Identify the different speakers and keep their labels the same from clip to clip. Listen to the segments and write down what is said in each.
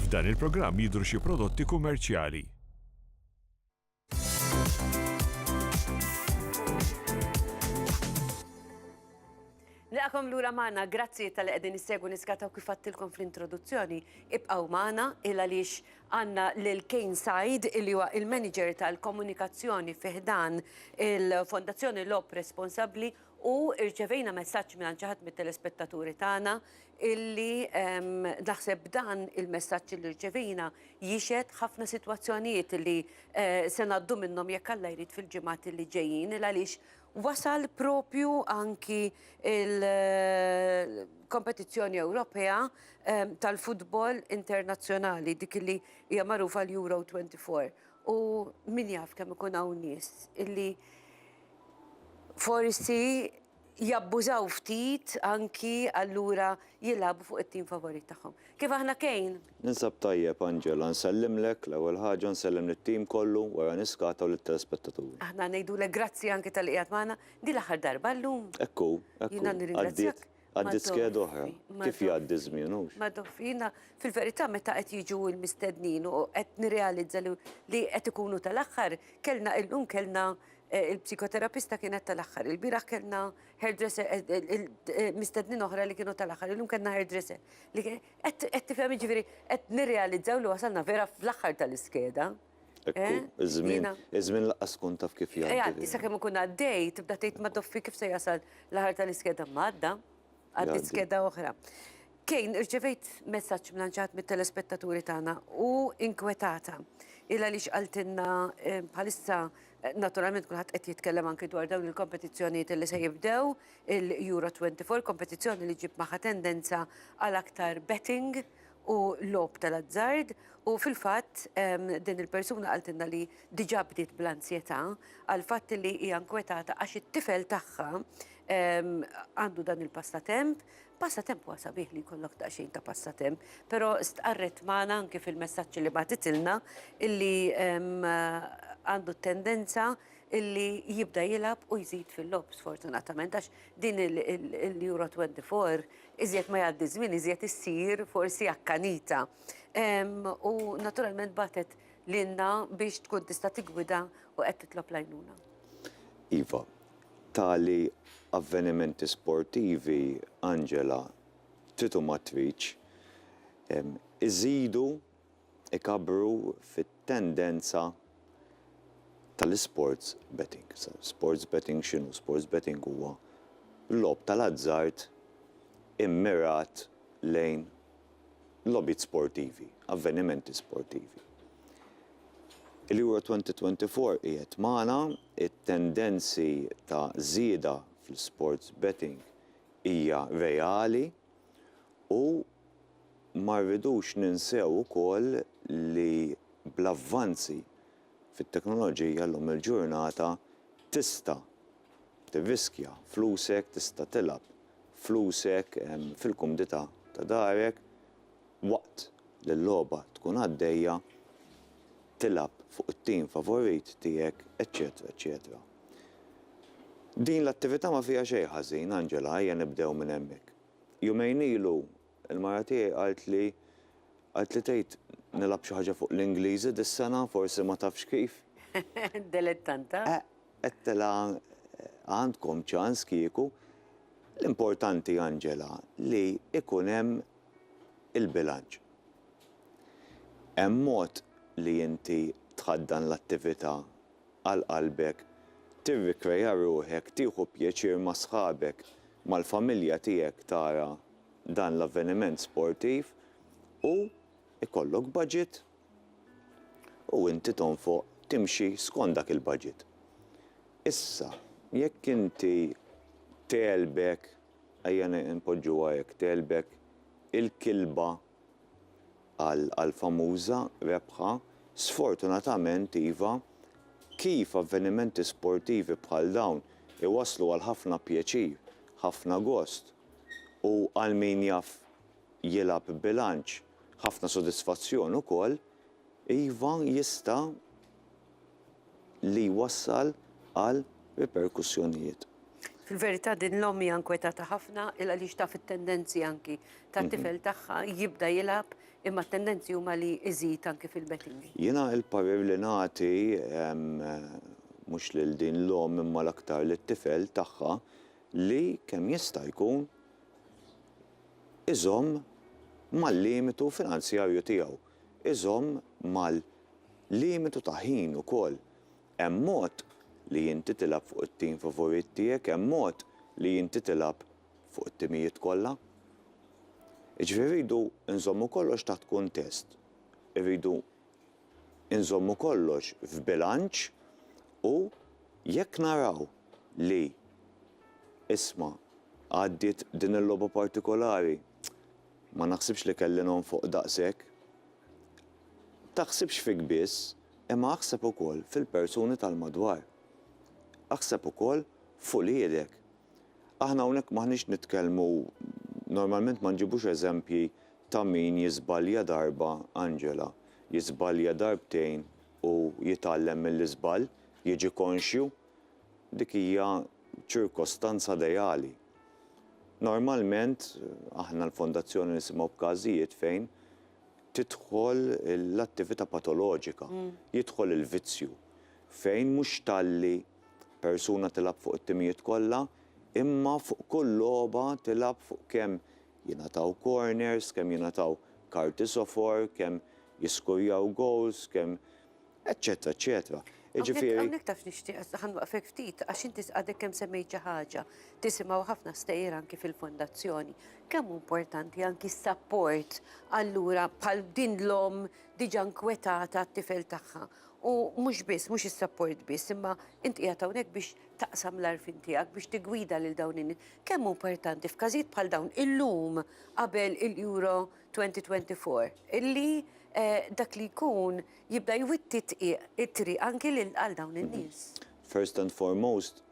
Speaker 1: F'dan il-programm jidhru xi prodotti kummerċjali.
Speaker 2: Nilqagħkom lura magħna, grazzi talli qegħdin issegwu niskataw kif għadtilkom fl-introduzzjoni. Ibqgħu magħna il għaliex għandna lil Kane Said li huwa il-Manager tal-Komunikazzjoni fi ħdan il-Fondazzjoni Lob Responsabbli U rċevejna messaġġ mingħand xi ħadd mit-telespettaturi tagħna illi naħseb dan il-messaġġ illi rċevejna jixhed ħafna sitwazzjonijiet illi se ngħaddu minnhom jekk Alla jrid fil-ġimgħat illi ġejjin il għaliex wasal propju anki il-kompetizzjoni Ewropea tal-futbol internazzjonali dik illi hija magħrufa l-Euro 24 u min jaf kemm ikun hawn nies illi Forsi jabbużaw ftit anki allura jilagħbu fuq it-tim favorit tagħhom. Kif aħna Kane? Ninsab tajjeb
Speaker 3: Angela, nsellimlek, l-ewwel ħaġa, nsellem lit-tim kollu, wara niskata u lit-telespettaturi. Aħna ngħidulek grazzi
Speaker 2: anki talli qiegħed magħna din l-aħħar darba llum. Hekk hu, hekk hu. Jiena
Speaker 3: nirringrazzjak.
Speaker 2: Għaddiet Għaddiet skeda
Speaker 3: oħra. Kif jgħaddi ż-żmien, hux? Ma dof, jiena
Speaker 2: fil-verità meta qed jiġu l-mistednin u qed nirrealizza li qed ikunu tal-aħħar, kellna illum kellna il-psikoterapista kienet tal-aħħar, ilbieraħ kellna hairdresser mistednin oħra li kienu tal-aħħar, illum kellna hairdresser. Qed tifhem jiġifieri qed nirrealizzaw li wasalna vera fl-aħħar tal-iskeda. Ekku, eh?
Speaker 3: iż-żmien, iż-żmien laqqas tkun taf kif jgħaddi. Jgħaddi, sa kemm ikun għaddej,
Speaker 2: tibda tgħid ma toffi kif se jasal l-aħar tal-iskeda madda, għaddi skeda oħra. Kejn, irċevejt messaġġ mlanċat mit-telespettaturi tagħna u inkwetata. Illa li xqaltinna eh, bħalissa eh, naturalment kulħadd qed jitkellem anki dwar dawn il-kompetizzjonijiet li se jibdew il-Euro 24, kompetizzjoni li ġib maħa tendenza għal aktar betting u logħob tal-azzard u fil-fatt din il-persuna qaltilna li diġà bdiet bl-anzjetà għal fatt li hija nkwetata għax it-tifel tagħha għandu dan il-passatemp. Passatemp huwa sabiħ li jkollok daqsxejn ta' passatemp, però stqarret magħna anke fil-messaġġ li bagħtitilna illi għandu t-tendenza illi jibda jilgħab u jżid fil-logħob sfortunatament għax din il-Euro 24 Iżjed ma jgħaddi ż-żmien iżjed issir forsi akkanita. U naturalment bagħtet lilna biex tkun tista' tiggwida u qed titlob l-għajnuna. Iva,
Speaker 3: tali avvenimenti sportivi, Angela, trid u ma tridx, iżidu ikabbru fit-tendenza tal-isports betting. Sports betting x'inhu? Sports betting huwa logħob tal-azzard immirat lejn logħbiet sportivi, avvenimenti sportivi. Il-Euro 2024 qiegħed magħna, it-tendenzi ta' żieda fl-isports betting hija reali, u ma rridux ninsew ukoll li bl-avvanzi fit-teknoloġija llum il-ġurnata tista' tirriskja flusek, tista' tilgħab flusek fil-kumdità ta' darek waqt li l-logħba tkun għaddejja, tilgħab fuq it-tim favorit tiegħek, eċċetera eċċetera. Din l-attività ma fiha xejn ħażin, Angela, ejja nibdew minn hemmhekk. Jumejn ilu, il-mara tiegħi qaltli, qaltli tgħid nilgħab xi ħaġa fuq l-Ingliżi dis-sena, forsi ma tafx kif. Dilettanta.
Speaker 2: Eh, għedtilha,
Speaker 3: għandkom ċans kieku. L-importanti, Angela, li ikun hemm il-bilanċ. Hemm mod li inti tħaddan l-attività għal qalbek, tirrikreja ruħek, tieħu pjaċir ma' sħabek, mal-familja tiegħek tara dan l-avveniment sportiv u jkollok budget u inti tonfoq, timxi skont dak il-budget. Issa, jekk inti tegħlbek, ejja npoġġuha hekk, tegħlbek il-kilba, għall-famuża rebħa, sfortunatament iva, kif avvenimenti sportivi bħal dawn iwasslu għal ħafna pjaċir, ħafna gost u għal min jaf jilgħab b'bilanċ, ħafna sodisfazzjon ukoll, iva jista' li jwassal għal riperkussjonijiet.
Speaker 2: Fil-verità din l-omm hija nkwetata ħafna il għaliex taf it-tendenzi anki tat-tifel tagħha jibda jilgħab imma t-tendenzi huma li iżid anki fil-betting. Jiena l-parir li
Speaker 3: nagħti mhux lil din l-omm imma l-aktar lit-tifel tagħha li kemm jista' jkun iżomm mal-limitu finanzjarju tiegħu, iżomm mal Limitu ta' ħin ukoll. Hemm mod li inti tilgħab fuq it-tim favorit tiegħek, hemm mod li inti tilgħab fuq it-timijiet kollha. Jiġifieri rridu nżommu kollox taħt kuntest. Irridu nżommu kollox f'bilanċ u jekk naraw li isma' għaddiet din il-logħba partikolari ma naħsibx li kelli nonfoq daqshekk. taħsibx fik biss, imma aħseb ukoll fil-persuni tal-madwar. Aħseb ukoll f'uliedek. Aħna hawnhekk m'aħniex nitkellmu, normalment ma nġibux eżempji ta' min jiżbalja darba, Angela, jiżbalja darbtejn u jitgħallem mill-iżball, jiġi konxju. Dik hija ċirkostanza ideali. Normalment, aħna l-Fondazzjoni nisimgħu b'każijiet fejn tidħol l-attività patoloġika, jidħol il-vizzju, fejn mhux talli persuna tilgħab fuq it-timijiet kollha, imma fuq kull logħba tilgħab fuq kemm jingħataw corners, kemm jingħataw karti sofor, kemm jiskujjaw gowls, kemm Eċċetera, eċċetera. Jiġifieri. Hawnhekk taf
Speaker 2: nixtieq, ħa nwaqfek ftit, għax inti għadek kemm semmejt xi ħaġa, tisimgħu ħafna stejjer anki fil-fondazzjoni. Kemm hu importanti anki s-sapport allura bħal din l-omm diġà nkwetata għat-tifel tagħha. U mhux biss, mhux is-sapport biss, imma int qiegħed hawnhekk biex taqsam l-għarfien tiegħek, biex tiggwida lil dawn in-nies. Kemm hu importanti f'każijiet bħal dawn illum qabel il-Euro 2024 illi dak li jkun jibda jwitti t-tqiegħ, it-triq anki lil għal dawn in-nies. First and
Speaker 3: foremost,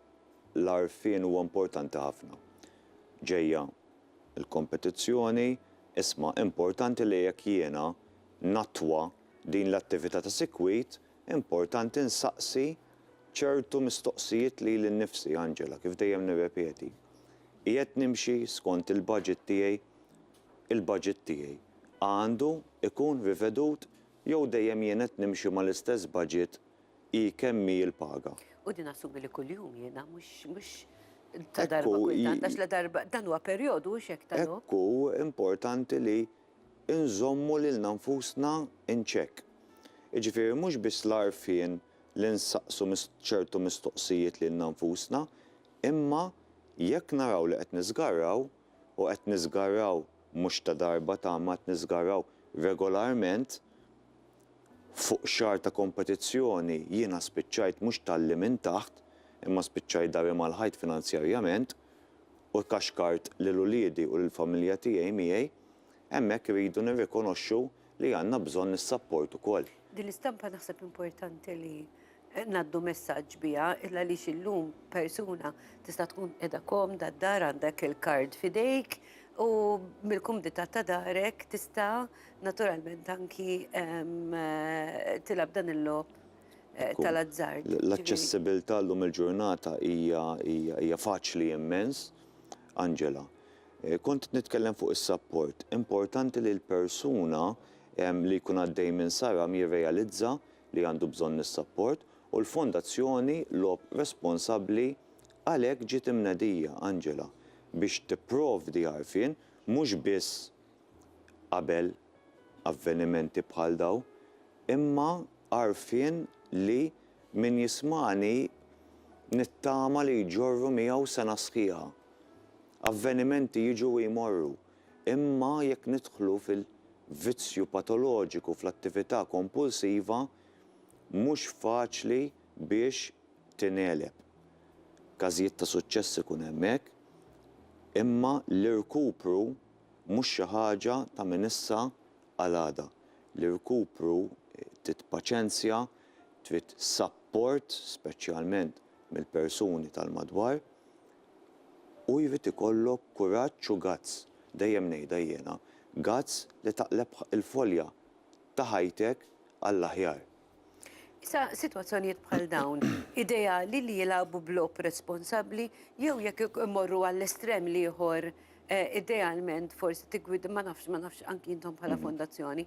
Speaker 3: l-għarfien huwa importanti ħafna. Ġejja l-kompetizzjoni, isma' importanti li jekk jiena nattwa din l-attività ta' sikwit, importanti nsaqsi ċertu mistoqsijiet lili nnifsi, Angela, kif dejjem nirrepeti, qiegħed nimxi skont il-budget tiegħi? Il-budget tiegħi għandu jkun rivedut Jew dejjem jien qed nimxi mal-istess budget hi kemm hi l-paga? U din assumi li
Speaker 2: kuljum jiena mhux mhux ta' darba kultant għax la darba dan huwa perjodu hux hekk ta' lok. Hekk hu importanti
Speaker 3: li nżommu lilna nfusna in check. Jiġifieri mhux biss l-għarfien li nsaqsu ċertu mistoqsijiet lilna nfusna imma jekk naraw li qed niżgarraw, u qed niżgarraw mhux ta' darba ta' imma qed niżgarraw regolarment fuq xahar ta' kompetizzjoni jiena spiċċajt mhux talli minn taħt imma spiċċajt dahri mal-ħajt finanzjarjament u kaxkart lil uliedi u lill-familja tiegħi miegħi hemmhekk irridu nirrikonoxxu li għandna bżonn is-sapport ukoll. Din l-istampa naħseb
Speaker 2: importanti li ngħaddu messaġġ biha il għaliex illum persuna tista' tkun qiegħda komda d-dar għandek il-card f'idejk u mill-kumdità ta' darek tista' naturalment anki tilgħab dan il-logħob tal-azzard. L-aċċessibilità
Speaker 3: llum il-ġurnata hija faċli immens, Angela. Kont nitkellem fuq is-sapport. Importanti li l-persuna li jkun għaddej minn saram jirrealizza li għandu bżonn is-sapport u l-Fondazzjoni Logħob Responsabbli għalhekk ġiet imnedija, Angela, biex tipprovdi għarfien mhux biss qabel avvenimenti bħal dawn imma għarfien li Min jismagħni nittama li jġorru miegħu sena sħiħa. Avvenimenti jiġu u jmorru, imma jekk nidħlu fil-vizzju patoloġiku fl-attività kompulsiva, mhux faċli biex tingħeleb. Każijiet ta' suċċess ikun hemm hekk, imma l-irkupru mhux xi ħaġa ta' minn issa għal għada. L-irkupru trid paċenzja, Trid sapport speċjalment mill-persuni tal-madwar u jrid ikollok kuraġġ u guts, dejjem ngħidha jiena, guts li taqleb il-folja ta' ħajtek għall-aħjar. Issa,
Speaker 2: sitwazzjonijiet bħal dawn, ideali li jilagħbu b'logħob responsabbli jew jekk imorru għall-estrem l-ieħor idealment forsi tiggwid, ma nafx, ma nafx anki intom bħala mhm. fondazzjoni,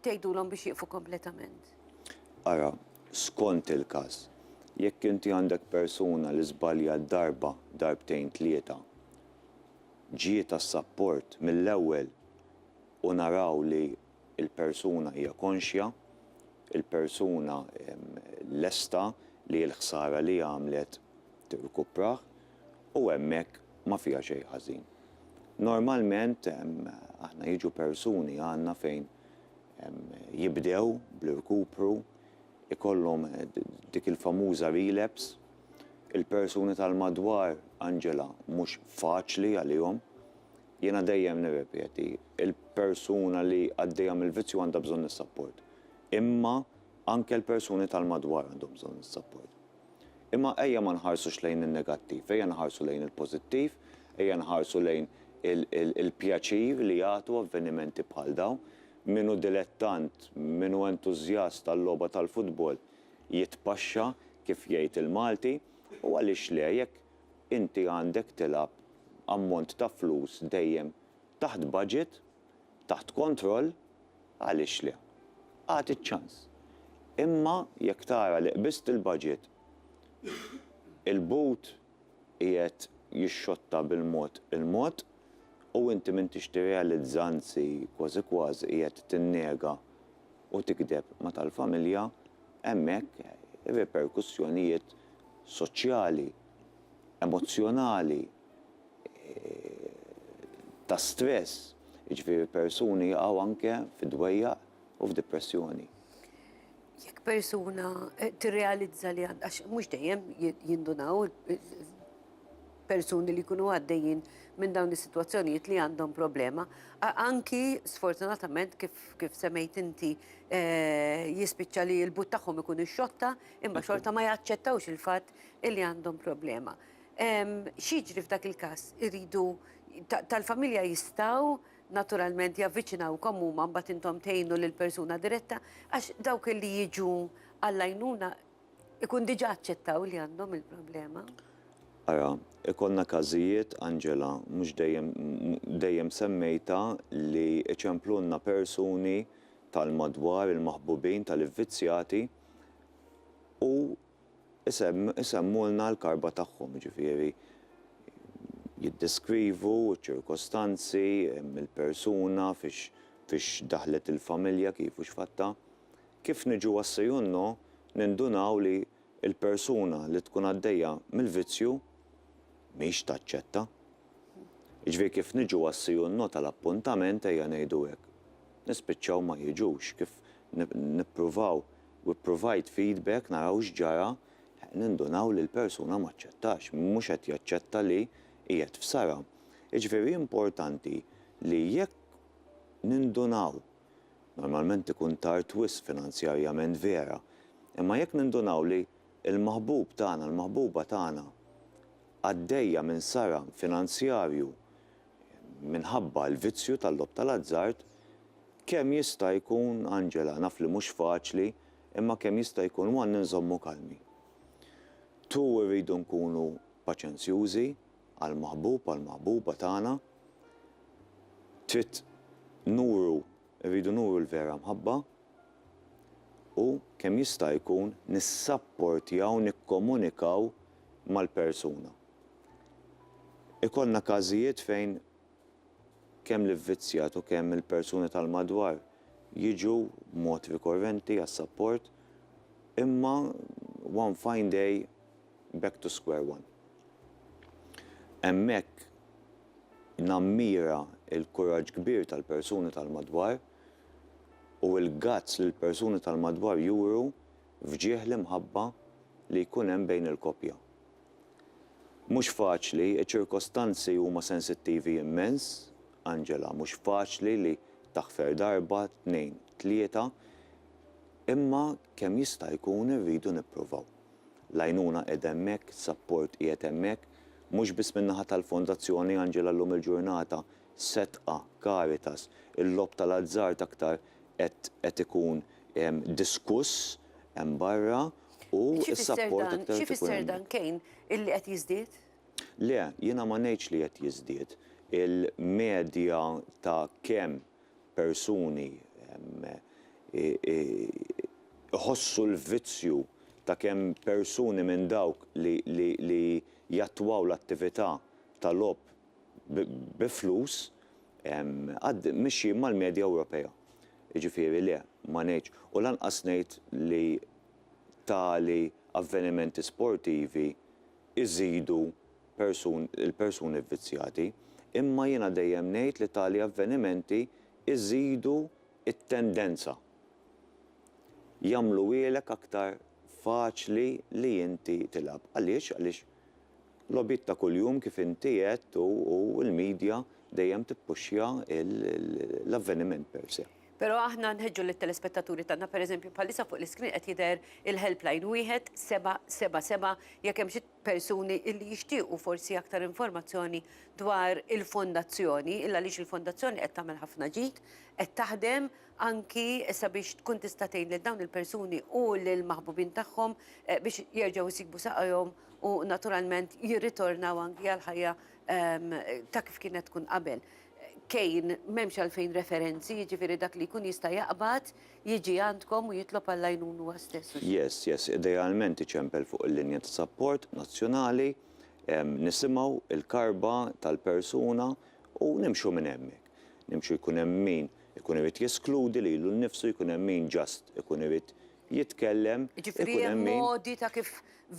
Speaker 2: tgħidulhom biex jieqfu kompletament. Ara,
Speaker 3: skont il-każ, jekk inti għandek persuna li żbalja darba, darbtejn tlieta, ġiet għas-sapport mill-ewwel u naraw li il-persuna hija konxja, il-persuna lesta li l-ħsara li għamlet tirkuprah u hemmhekk ma fiha xejn ħażin. Normalment aħna jiġu persuni għandna fejn jibdew bl-irkupru, ikollhom dik il-famuża relapse, il-persuni tal-madwar Angela mhux faċli għalihom, Jiena dejjem nirrepeti, il-persuna li għaddejja mill-vizzju għandha bżonn is-sapport. Imma anke l-persuni tal-madwar għandhom bżonn is-sapport. Imma ejja ma nħarsux lejn in-negattiv, ejja nħarsu lejn il-pożittiv, ejja nħarsu lejn il-pjaċir li jagħtu avvenimenti bħal dawn. Min hu dilettant, min hu entużjast għal-logħba tal-futbol jitpaxxa, kif jgħid il-Malti, u għaliex le, jekk, inti għandek tilgħab ammont ta' flus dejjem taħt budget, taħt kontroll, għaliex le? Agħti ċ-ċans. Imma jekk tara li qbiżt il-budget, il-but qiegħed jixxotta bil-mod il-mod u inti m'intix tirrealizza anzi kważi kważi qiegħed tinnega u tikdeb ma' tal-familja, hemmhekk ir-riperkussjonijiet soċjali, emozzjonali, ta' stress, jiġifieri persuni jaqgħu anke fi dwejjaq u f'dipressjoni.
Speaker 2: Jekk persuna tirrealizza li għandha, għax mhux dejjem jindunaw persuni li jkunu għaddejjin minn dawn is-sitwazzjonijiet li għandhom problema, anki sfortunatament kif semmejt inti jispiċċa li l-but tagħhom ikun ix-xotta, imma xorta ma jaċċettawx il-fatt illi għandhom problema. X'jiġri f'dak il-każ? Iridu tal-familja jistgħu naturalment javviċinawkom huma mbagħad intom tgħinu lil persuna diretta għax dawk li jiġu għall-għajnuna ikun diġà aċċettaw li għandhom il-problema. Ara,
Speaker 3: ikollna każijiet, Angela, mhux dejjem semmejta li iċemplulna persuni tal-madwar il-maħbubin tal-ivvizzjati, u jsemmulna l-karba tagħhom, jiġifieri jiddeskrivu ċ-ċirkostanzi, il-persuna, fiex daħlet il-familja, kif u x'fattha. Kif niġu għas-Sejunno nindunaw li l-persuna li tkun għaddejja mill-vizzju mhix taċċetta. Jiġifieri kif niġu għas-Sejunno tal-appuntament, ejja ngħidu hekk, nispiċċaw ma jiġux, kif nippruvaw u ppruvajt feedback naraw x'ġara, nindunaw li l-persuna m'aċċettax, mhux qed jaċċetta li qiegħed f'sara. Jiġifieri importanti li jekk nindunaw, normalment ikun tard wisq finanzjarjament vera, imma jekk nindunaw li l-maħbub tagħna, l-maħbuba tagħna għaddejja minn sara finanzjarju, minħabba l-vizzju tal-logħob tal-azzard, kemm jista' jkun, Angela, naf li mhux faċli, imma kemm jista' jkun one inżommu kalmi. Two irridu nkunu paċenzjużi għall-maħbub, għall-maħbuba tagħna. Trid nuru Irridu nuru l-vera mħabba u kemm jista' jkun nissapportjaw nikkomunikaw mal-persuna. Ikollna każijiet fejn kemm l-ivvizzjat u kemm il-persuni tal-madwar jiġu b'mod rikorrenti għas-sapport, imma one fine day, back to square one. Hemmhekk nammira l-kuraġġ kbir tal-persuni tal-madwar u l-guts li l-persuni tal-madwar juru f'ġieħ l-imħabba li jkun hemm bejn il-koppja. Mhux faċli, iċ-ċirkostanzi huma sensittivi immens, Angela, mhux faċli li taħfer darba, tnejn, tlieta, imma kemm jista' jkun irridu nippruvaw. L-għajnuna qiegħda hemmhekk, is-sapport qiegħed hemmhekk, mhux biss min-naħa tal-Fondazzjoni Angela llum il-ġurnata setqa, Caritas, il-logħob tal-azzard aktar qed qed ikun diskuss hemm barra u s-sapport aktar qed ikun hemm. Xi jfisser dan? Xi jfisser dan kejn
Speaker 2: illi qed jiżdied? Le,
Speaker 3: jiena ma ngħidx li qed jiżdied. Il-medja ta' kemm persuni jħossu l-vizzju ta' kemm persuni minn dawk li jattwaw l-attività ta' logħob bi flus mixjin mal-medja Ewropea. Jiġifieri le, ma ngħidx, u lanqas ngħid li tali avvenimenti sportivi, iżidu persun il-persuni vvizzjati, imma jiena dejjem ngħid li tali avvenimenti iżidu t-tendenza. Jagħmluhielek aktar faċli li inti tilgħab. Għaliex? Għaliex logħbiet ta' kuljum kif inti għedt u u l-media dejjem tippuxxja l-avveniment per se. Però aħna nħeġġu
Speaker 2: lit-telespettaturi tagħna, pereżempju bħalissa fuq l-iskrin qed jidher il-helpline 1777 jekk hemm xi persuni li jixtiequ forsi aktar informazzjoni dwar il-fondazzjoni, il għaliex il-fondazzjoni qed tagħmel ħafna ġid, qed taħdem anki sabiex tkun tista' tgħin lil dawn il-persuni u lill-maħbubin tagħhom biex jerġgħu jsibu saqajhom u naturalment jirritornaw anki għall-ħajja ta' kif kienet tkun qabel. Kejn, m'hemmx għalfejn referenzi, jiġifieri dak li jkun jista' jaqbad jiġi għandkom u jitlob għall-għajnun huwa stess. Yes, yes,
Speaker 3: idealment iċempel fuq il-linja ta' sapport nazzjonali, nisimgħu il-karba tal-persuna u nimxu minn hemmhekk. Nimxu jkun hemm min ikun irid jeskludi lilu nnifsu, jkun hemm min just ikun irid jitkellem, ikun hemm min. Jiġifieri hemm
Speaker 2: modi ta' kif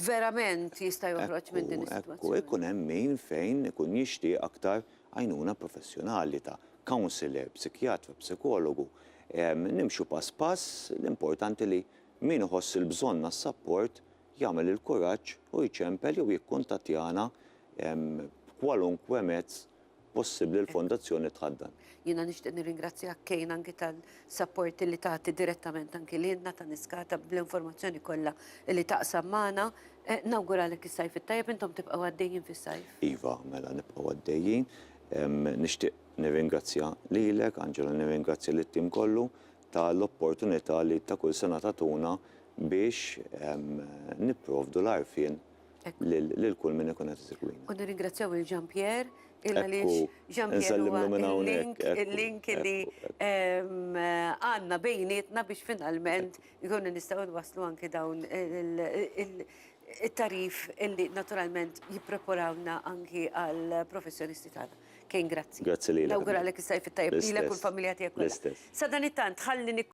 Speaker 2: verament jista' joħroġ minn din is-sitwazzjoni. Ekku, ekku, jkun hemm min
Speaker 3: fejn ikun jixtieq aktar għajnuna professjonali ta' counselor, psikjatra, psikologu, nimxu pass pass, l-importanti li min iħoss il-bżonn għas-sapport jagħmel il-kuraġġ u jċempel jew jikkuntattjana b'kwalunkwe mezz possibbli l-Fondazzjoni Tħaddan. Jiena nixtieq
Speaker 2: nirringrazzjak Kane anki Support li tagħti direttament anki lilna ta' Niskata bl-informazzjoni kollha li taqsam magħna. Nawguralek is-Sajf it-tajjeb, intom tibqgħu għaddejjin fis-Sajf? Iva, mela nibqgħu
Speaker 3: għaddejjin. Nixtieq nirringrazzja lilek, Angela, nirringrazzja lit-tim kollu ta' l-opportunità li ta' kull sena tagħtuna biex nipprovdu l-għarfien, lil kull min ikun qed isegwina. U nirringrazzjaw lil Jean
Speaker 2: Pierre, il għaliex Jean Pierre huwa l-link, il-link li għandna bejnietna biex finalment ikunu nistgħu nwasslu anke dawn it-tagħrif li naturalment jippreparawna anke għall-professjonisti tagħna. Kane, grazzi. Grazzi lilek. Nawguralek is-Sajf
Speaker 3: it-Tajjeb
Speaker 2: lilek u l-familja
Speaker 3: tiegħek
Speaker 2: kollha. L-istess.
Speaker 3: Sadanittant,
Speaker 2: ħalli